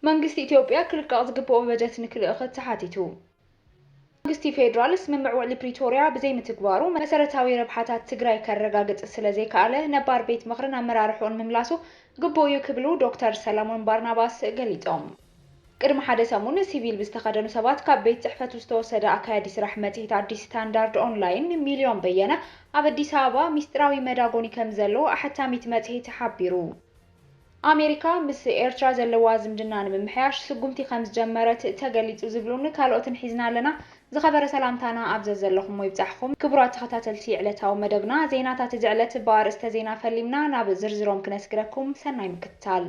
መንግስቲ ኢትዮጵያ ክልቀቕ ዝግበኦ በጀት ንክልእኽት ተሓቲቱ። መንግስቲ ፌዴራል ስምምዕ ውዕሊ ፕሪቶርያ ብዘይምትግባሩ መሰረታዊ ረብሓታት ትግራይ ከረጋግፅ ስለዘይከኣለ ነባር ቤት ምኽርን ኣመራርሕኡን ምምላሱ ግቡእ እዩ ክብሉ ዶክተር ሰለሞን ባርናባስ ገሊፆም። ቅድሚ ሓደ ሰሙን ሲቪል ብዝተኸደኑ ሰባት ካብ ቤት ፅሕፈቱ ዝተወሰደ ኣካያዲ ስራሕ መፅሄት ኣዲስ ስታንዳርድ ኦንላይን ሚሊዮን በየነ ኣብ ኣዲስ ኣበባ ሚስጢራዊ መዳጎኒ ከምዘለዎ ኣሐታሚት መፅሄት ሓቢሩ። ኣሜሪካ ምስ ኤርትራ ዘለዋ ዝምድና ንምምሕያሽ ስጉምቲ ከምዝጀመረት ተገሊጹ ዝብሉን ካልኦትን ሒዝና ኣለና። ዝኸበረ ሰላምታና ኣብ ዘዘለኹሞ ይብጻሕኹም ክቡራት ተኸታተልቲ ዕለታዊ መደብና ዜናታት እዚ ዕለት ብኣርእስተ ዜና ፈሊምና ናብ ዝርዝሮም ክነስግረኩም ሰናይ ምክትታል።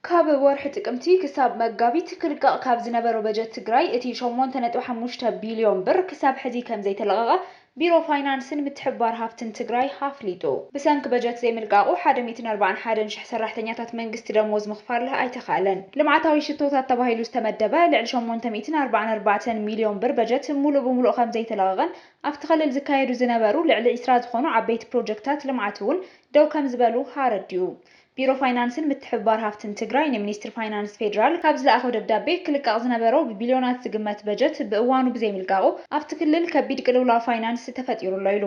ካብ ወርሒ ጥቅምቲ ክሳብ መጋቢት ክልቀቕ ካብ ዝነበሮ በጀት ትግራይ እቲ ሸሞንተ ነጥቢ ሓሙሽተ ቢልዮን ብር ክሳብ ሕዚ ከምዘይተለቐቐ ቢሮ ፋይናንስን ምትሕብባር ሃፍትን ትግራይ ኣፍሊጡ። ብሰንኪ በጀት ዘይምልቃቑ ሓደ ሚእትን ኣርባዓን ሓደን ሽሕ ሰራሕተኛታት መንግስቲ ደሞዝ ምኽፋል ኣይተኽኣለን። ልምዓታዊ ሽቶታት ተባሂሉ ዝተመደበ ልዕሊ ሸሞንተ ሚእትን ኣርባዓን ኣርባዕተን ሚልዮን ብር በጀት ሙሉእ ብሙሉእ ከምዘይተለቐቐን ኣብቲ ክልል ዝካየዱ ዝነበሩ ልዕሊ ዕስራ ዝኾኑ ዓበይቲ ፕሮጀክትታት ልምዓት እውን ደው ከምዝበሉ ኣረዲኡ። ቢሮ ፋይናንስን ምትሕብባር ሃፍትን ትግራይ ንሚኒስትሪ ፋይናንስ ፌዴራል ካብ ዝለኣኾ ደብዳቤ ክልቀቕ ዝነበሮ ብቢልዮናት ዝግመት በጀት ብእዋኑ ብዘይምልቃቑ ኣብቲ ክልል ከቢድ ቅልውላው ፋይናንስ ተፈጢሩ ኣሎ ኢሉ።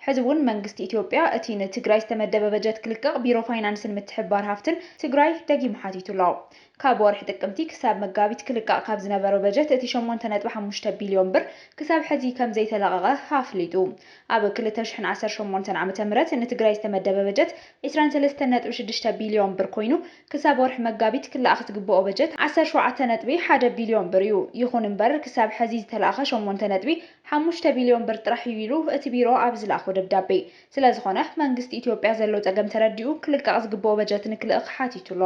ሕዚ እውን መንግስቲ ኢትዮጵያ እቲ ንትግራይ ዝተመደበ በጀት ክልቀቕ ቢሮ ፋይናንስን ምትሕብባር ሃፍትን ትግራይ ደጊሙ ሓቲቱ ኣሎ። ካብ ወርሒ ጥቅምቲ ክሳብ መጋቢት ክልቀቕ ካብ ዝነበሮ በጀት እቲ ሸሞንተ ነጥቢ ሓሙሽተ ቢልዮን ብር ክሳብ ሕዚ ከም ዘይተለቐቐ ኣፍሊጡ። ኣብ ክልተ ሽሕን ዓሰርተ ሸሞንተን ዓመተ ምህረት ንትግራይ ዝተመደበ በጀት ዕስራን ሰለስተን ነጥቢ ሽዱሽተ ቢልዮን ብር ኮይኑ ክሳብ ወርሒ መጋቢት ክለኣኽ ዝግበኦ በጀት ዓሰርተ ሸውዓተ ነጥቢ ሓደ ቢልዮን ብር እዩ። ይኹን እምበር ክሳብ ሕዚ ዝተለኣኸ ሸሞንተ ነጥቢ ሓሙሽተ ቢልዮን ብር ጥራሕ እዩ ኢሉ እቲ ቢሮ ኣብ ዝለኣኾ ደብዳቤ። ስለዝኾነ መንግስቲ ኢትዮጵያ ዘሎ ፀገም ተረዲኡ ክልቀቕ ዝግበኦ በጀት ንክልእኽ ሓቲቱ ኣሎ።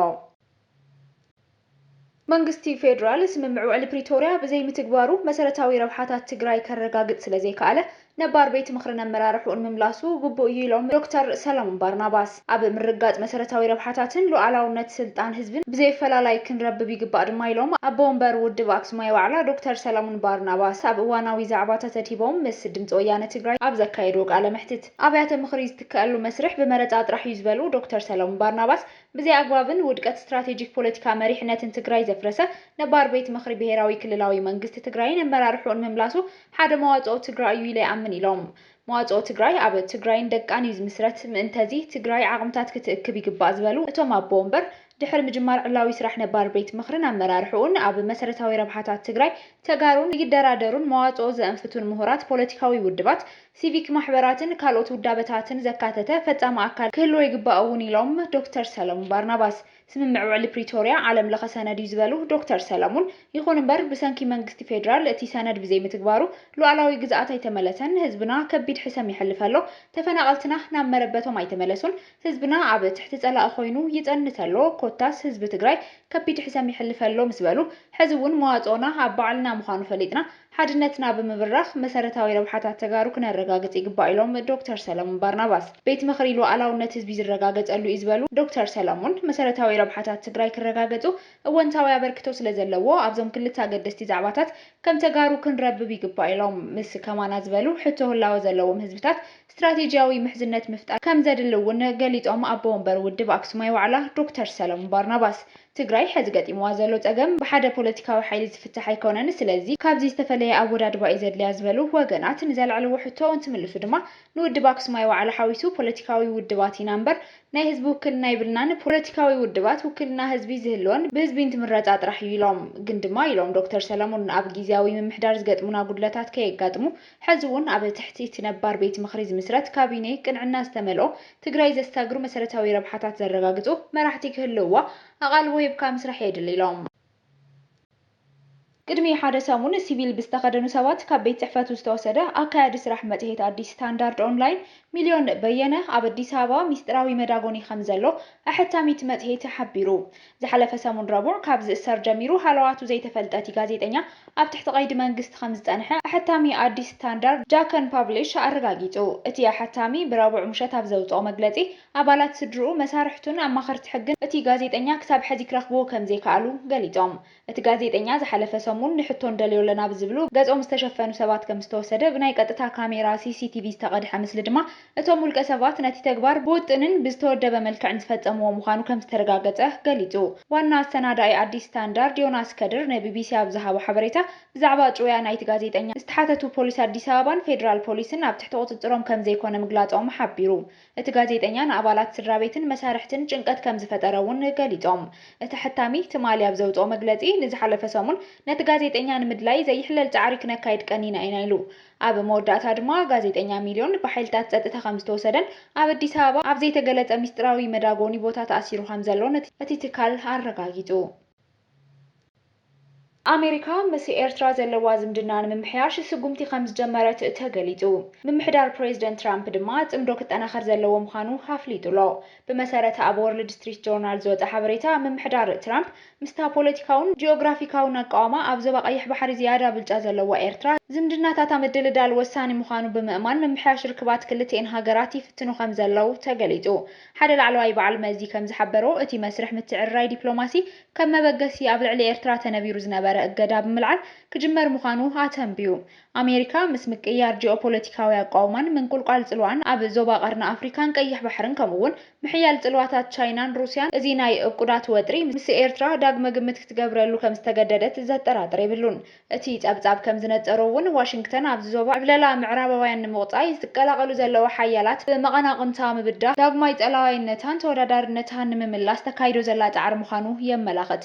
መንግስቲ ፌዴራል ስምምዕ ውዕሊ ፕሪቶርያ ብዘይምትግባሩ መሰረታዊ ረብሓታት ትግራይ ከረጋግፅ ስለዘይከኣለ ነባር ቤት ምኽርን ኣመራርሕኡን ምምላሱ ግቡእ እዩ ኢሎም ዶክተር ሰለሞን ባርናባስ። ኣብ ምርግጋፅ መሰረታዊ ረብሓታትን ሉኣላውነት ስልጣን ህዝብን ብዘይፈላላይ ክንረብብ ይግባእ ድማ ኢሎም ኣቦ ወንበር ውድብ ኣክሱማይ ዋዕላ ዶክተር ሰለሙን ባርናባስ ኣብ እዋናዊ ዛዕባታት ኣድሂቦም ምስ ድምፂ ወያነ ትግራይ ኣብ ዘካየድዎ ቃለ መሕትት። ኣብያተ ምኽሪ ዝትከኣሉ መስርሕ ብመረፃ ጥራሕ እዩ ዝበሉ ዶክተር ሰለሙን ባርናባስ፣ ብዘይኣግባብን ውድቀት ስትራቴጂክ ፖለቲካ መሪሕነትን ትግራይ ዘፍረሰ ነባር ቤት ምኽሪ ብሄራዊ ክልላዊ መንግስቲ ትግራይን ኣመራርሕኡን ምምላሱ ሓደ መዋፅኦ ትግራይ እዩ ኢለ ይኣምን ኢሎም። መዋፅኦ ትግራይ ኣብ ትግራይን ደቃን እዩ ዝምስረት፣ ምእንተዚ ትግራይ ዓቕምታት ክትእክብ ይግባእ ዝበሉ እቶም ኣቦ ወንበር፣ ድሕሪ ምጅማር ዕላዊ ስራሕ ነባር ቤት ምኽርን ኣመራርሕኡን ኣብ መሰረታዊ ረብሓታት ትግራይ፣ ተጋሩን ይደራደሩን መዋፅኦ ዘእንፍቱን ምሁራት ፖለቲካዊ ውድባት፣ ሲቪክ ማሕበራትን ካልኦት ውዳበታትን ዘካተተ ፈፃሚ ኣካል ክህልዎ ይግባእ እውን ኢሎም ዶክተር ሰለሙን ባርናባስ። ስምምዕ ውዕሊ ፕሪቶርያ ዓለም ለኸ ሰነድ እዩ ዝበሉ ዶክተር ሰለሙን፣ ይኹን እምበር ብሰንኪ መንግስቲ ፌዴራል እቲ ሰነድ ብዘይምትግባሩ ሉኣላዊ ግዝኣት ኣይተመለሰን፣ ህዝብና ከቢድ ሕሰም የሕልፍ ኣሎ፣ ተፈናቐልትና ናብ መረበቶም ኣይተመለሱን፣ ህዝብና ኣብ ትሕቲ ፀላኢ ኮይኑ ይፀንት ኣሎ፣ ኮታስ ህዝቢ ትግራይ ከቢድ ሕሰም የሕልፍ ኣሎ ምስ በሉ፣ ሕዚ እውን መዋፅኦና ኣብ ባዕልና ምዃኑ ፈሊጥና ሓድነትና ብምብራኽ መሰረታዊ ረብሓታት ተጋሩ ክነረጋግፅ ይግባእ ኢሎም ዶክተር ሰለሙን ባርናባስ። ቤት ምኽሪ ሉኣላውነት ህዝቢ ዝረጋገፀሉ እዩ ዝበሉ ዶክተር ሰለሙን፣ መሰረታዊ ረብሓታት ትግራይ ክረጋገፁ እወንታዊ ኣበርክቶ ስለዘለዎ ኣብዞም ክልተ ኣገደስቲ ዛዕባታት ከም ተጋሩ ክንረብብ ይግባእ ኢሎም። ምስ ከማና ዝበሉ ሕቶ ህላወ ዘለዎም ህዝብታት ስትራቴጂያዊ ምሕዝነት ምፍጣር ከምዘድሊ እውን ገሊፆም ኣቦ ወንበር ውድብ ኣክሱማይ ዋዕላ ዶክተር ሰለሙን ባርናባስ። ትግራይ ሐዚ ገጢምዋ ዘሎ ፀገም ብሓደ ፖለቲካዊ ሓይሊ ዝፍታሕ ኣይኮነን ስለዚ ካብዚ ዝተፈለየ ኣወዳድባ እዩ ዘድልያ ዝበሉ ወገናት ንዘልዐልዎ ሕቶ እንትምልሱ ድማ ንውድብ ኣክሱማይ ዋዕላ ሓዊሱ ፖለቲካዊ ውድባት ኢና እምበር ናይ ህዝቢ ውክልና የብልናን ፖለቲካዊ ውድባት ውክልና ህዝቢ ዝህልወን ብህዝቢ እንትምረፃ ጥራሕ እዩ ኢሎም። ግን ድማ ኢሎም ዶክተር ሰለሙን ኣብ ጊዚያዊ ምምሕዳር ዝገጥሙና ጉድለታት ከየጋጥሙ ሕዚ እውን ኣብ ትሕቲ እቲ ነባር ቤት ምኽሪ ዝምስረት ካቢኔ ቅንዕና ዝተመልኦ ትግራይ ዘሳግሩ መሰረታዊ ረብሓታት ዘረጋግፁ መራሕቲ ክህልውዋ ኣቓልቦ ሂብካ ምስራሕ የድሊ ኢሎም። ቅድሚ ሓደ ሰሙን ሲቪል ብዝተኸደኑ ሰባት ካብ ቤት ፅሕፈቱ ዝተወሰደ ኣካያዲ ስራሕ መፅሄት ኣዲስ ስታንዳርድ ኦንላይን ሚልዮን በየነ ኣብ ኣዲስ ኣበባ ሚስጥራዊ መዳጎኒ ከምዘሎ ኣሐታሚት መፅሄት ሓቢሩ። ዝሓለፈ ሰሙን ረቡዕ ካብ ዝእሰር ጀሚሩ ሃለዋቱ ዘይተፈልጠ እቲ ጋዜጠኛ ኣብ ትሕቲ ቀይዲ መንግስቲ ከምዝጸንሐ ኣሐታሚ ኣዲስ ስታንዳርድ ጃከን ፓብሊሽ ኣረጋጊጹ። እቲ ኣሐታሚ ብረቡዕ ምሸት ኣብ ዘውጽኦ መግለጺ ኣባላት ስድርኡ፣ መሳርሕቱን ኣማኸርቲ ሕግን እቲ ጋዜጠኛ ክሳብ ሐዚ ክረኽብዎ ከምዘይከኣሉ ገሊጾም። እቲ ጋዜጠኛ ዝሓለፈ ሰሙን ንሕቶ ንደልዮ ኣለና ብዝብሉ ገጾም ዝተሸፈኑ ሰባት ከምዝተወሰደ ብናይ ቀጥታ ካሜራ ሲሲቲቪ ዝተቐድሐ ምስሊ ድማ እቶም ውልቀ ሰባት ነቲ ተግባር ብውጥንን ብዝተወደበ መልክዕን ዝፈፀምዎ ምዃኑ ከምዝተረጋገፀ ገሊፁ። ዋና ኣሰናዳኢ ኣዲስ ስታንዳርድ ዮናስ ከድር ንቢቢሲ ኣብ ዝሃቦ ሓበሬታ፣ ብዛዕባ ጭውያ ናይቲ ጋዜጠኛ ዝተሓተቱ ፖሊስ ኣዲስ ኣበባን ፌደራል ፖሊስን ኣብ ትሕቲ ቁፅፅሮም ከምዘይኮነ ምግላፆም ሓቢሩ። እቲ ጋዜጠኛ ንኣባላት ስድራቤትን መሳርሕትን ጭንቀት ከምዝፈጠረ እውን ገሊፆም። እቲ ኣሐታሚ ትማሊ ኣብ ዘውፅኦ መግለፂ፣ ንዝሓለፈ ሰሙን ነቲ ጋዜጠኛ ንምድላይ ዘይሕለል ፃዕሪ ክነካይድ ቀኒና ኢና ኢሉ። ኣብ መወዳእታ ድማ ጋዜጠኛ ሚልዮን ብሓይልታት ጸጥታ ከም ዝተወሰደን ኣብ ኣዲስ ኣበባ ኣብ ዘይተገለጸ ምስጢራዊ መዳጎኒ ቦታ ተኣሲሩ ከም ዘሎን እቲ ትካል ኣረጋጊጹ። ኣሜሪካ ምስ ኤርትራ ዘለዋ ዝምድና ንምምሕያሽ ስጉምቲ ከም ዝጀመረት ተገሊጹ። ምምሕዳር ፕሬዝደንት ትራምፕ ድማ ጽምዶ ክጠናኸር ዘለዎ ምዃኑ ኣፍሊጡ'ሎ። ብመሰረት ኣብ ዎርልድ ስትሪት ጆርናል ዝወጸ ሓበሬታ፣ ምምሕዳር ትራምፕ ምስታ ፖለቲካውን ጂኦግራፊካውን ኣቃውማ ኣብ ዞባ ቀይሕ ባሕሪ ዝያዳ ብልጫ ዘለዋ ኤርትራ ዝምድናታታ ምድልዳል ወሳኒ ምዃኑ ብምእማን ምምሕያሽ ርክባት ክልቲኤን ሃገራት ይፍትኑ ከምዘለዉ ተገሊጹ። ሓደ ላዕለዋይ በዓል መዚ ከምዝሓበሮ፣ እቲ መስርሕ ምትዕርራይ ዲፕሎማሲ ከም መበገሲ ኣብ ልዕሊ ኤርትራ ተነቢሩ ዝነበረ እገዳ ብምልዓል ክጅመር ምዃኑ ኣተንብዩ። ኣሜሪካ ምስ ምቅይያር ጂኦፖለቲካዊ ኣቋውማን ምንቁልቋል ጽልዋኣን ኣብ ዞባ ቀርኒ ኣፍሪካን ቀይሕ ባሕርን ከምኡ'ውን ምሕያል ጽልዋታት ቻይናን ሩስያን እዚ ናይ እብቁዳት ወጥሪ ምስ ኤርትራ ዳግመ ግምት ክትገብረሉ ከም ዝተገደደት ዘጠራጥር የብሉን። እቲ ጸብጻብ ከም ዝነጸሮ እውን ዋሽንግተን ኣብዚ ዞባ ዕብለላ ምዕራባውያን ንምቑጻይ ዝቀላቐሉ ዘለዋ ሓያላት ብመቐናቑንታ ምብዳህ ዳግማይ ጸላዋይነታን ተወዳዳርነታን ንምምላስ ተካይዶ ዘላ ጻዕሪ ምዃኑ የመላኽት።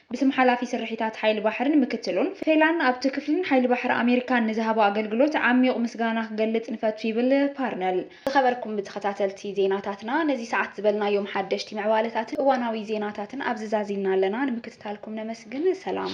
ብስም ሓላፊ ስርሒታት ሓይሊ ባሕርን ምክትሉን ፌላን ኣብቲ ክፍልን ሓይሊ ባሕሪ ኣሜሪካን ንዝሃቦ ኣገልግሎት ዓሚዩቕ ምስጋና ክገልጽ ንፈቱ ይብል ፓርነል። ዝኸበርኩም ተኸታተልቲ ዜናታትና ነዚ ሰዓት ዝበልናዮም ሓደሽቲ ምዕባለታትን እዋናዊ ዜናታትን ኣብዚ ዛዚምና ኣለና ንምክትታልኩም ነመስግን ሰላም።